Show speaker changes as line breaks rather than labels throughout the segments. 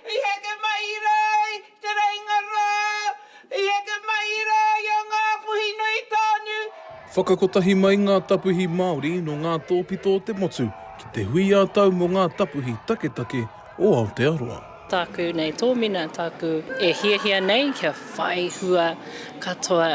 I heke mai i rā i Te Reinga rā, i heke mai i rā i a Ngāpuhi nui tānu. Whakakotahi mai ngā tapuhi Māori nō ngā tōpito o te motu ki te hui ā-tau mō ngā tapuhi taketake o Aotearoa. Tāku nei
tōmina, tāku e hiahia nei kia whai hua katoa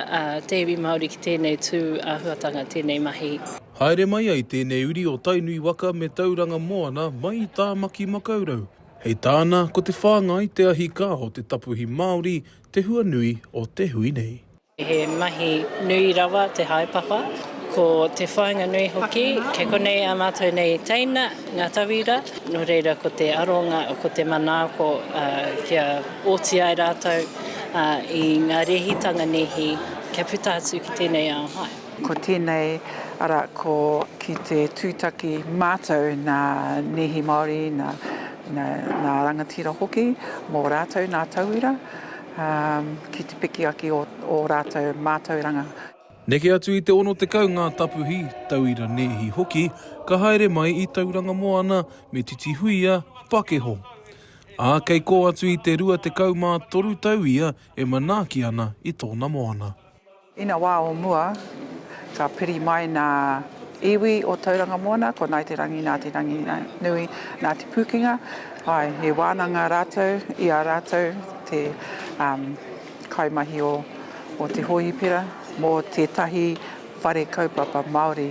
te iwi Māori ki tēnei tū āhuatanga, tēnei mahi. Haere mai ai
tēnei uri o Tainui waka me Tauranga moana mai i Tāmaki Makaurau, Hei tāna, ko te whāngai te ahi kā o te tapuhi Māori te hua nui o te hui nei. He mahi
nui rawa te haepapa, ko te whāinga nui hoki, kei konei ā mātou nei teina, ngā tauira, nō reira ko te aronga, ko te manaako kia oti ai rātou i ngā rēhitanga nēhi kia puta atu ki tēnei ao. Ko tēnei,
arā, ko ki te tūtaki mātou nā Neehi Māori, nā Rangatira hoki, mō rātou nā tauira, ki te piki ake i ō rātou mātauranga. Neke atu
i te 60 ngā tapuhi, tauira Neehi hoki, ka haere mai i Tauranga Moana me Titihuia, Pakeho. Ā, kei kō atu i te 23 tau ia e manaaki ana i tōna moana. Ina wā o
mua, ka piri mai ngā iwi o Tauranga Moana, ko Ngāi Te Rangi, Ngāti Ranginui, Ngāti Pūkenga, āe, he wānanga rātou i a rātou te kaimahi o te hōhipera mō tētahi whare kaupapa Māori.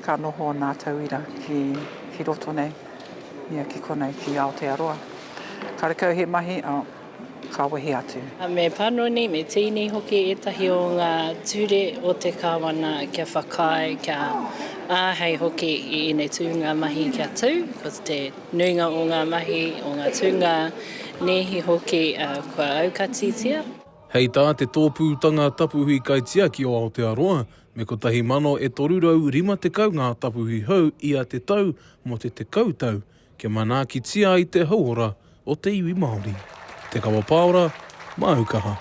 Ka noho nā tauira ki roto nei, ia ki konei ki Aotearoa. Ka rekau he mahi, ka wehi atu. Me panoni,
me tīni hoki ētahi o ngā ture o te Kāwana kia whakaae, kia āhei hoki i ēnei tūnga mahi kia tū. Ko te nuinga o ngā mahi, o ngā tūnga nēhi hoki kua aukatitia. Hei tā
te Tōpūtanga Tapuhi Kaitiaki o Aotearoa, Me 1,350 ngā tapuhi hou ia te tau mō te tekau tau kia manaakitia ai te hauora o te iwi Māori. Te Kawa Paora, māu kaha.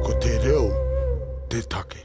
Ko te reo te take.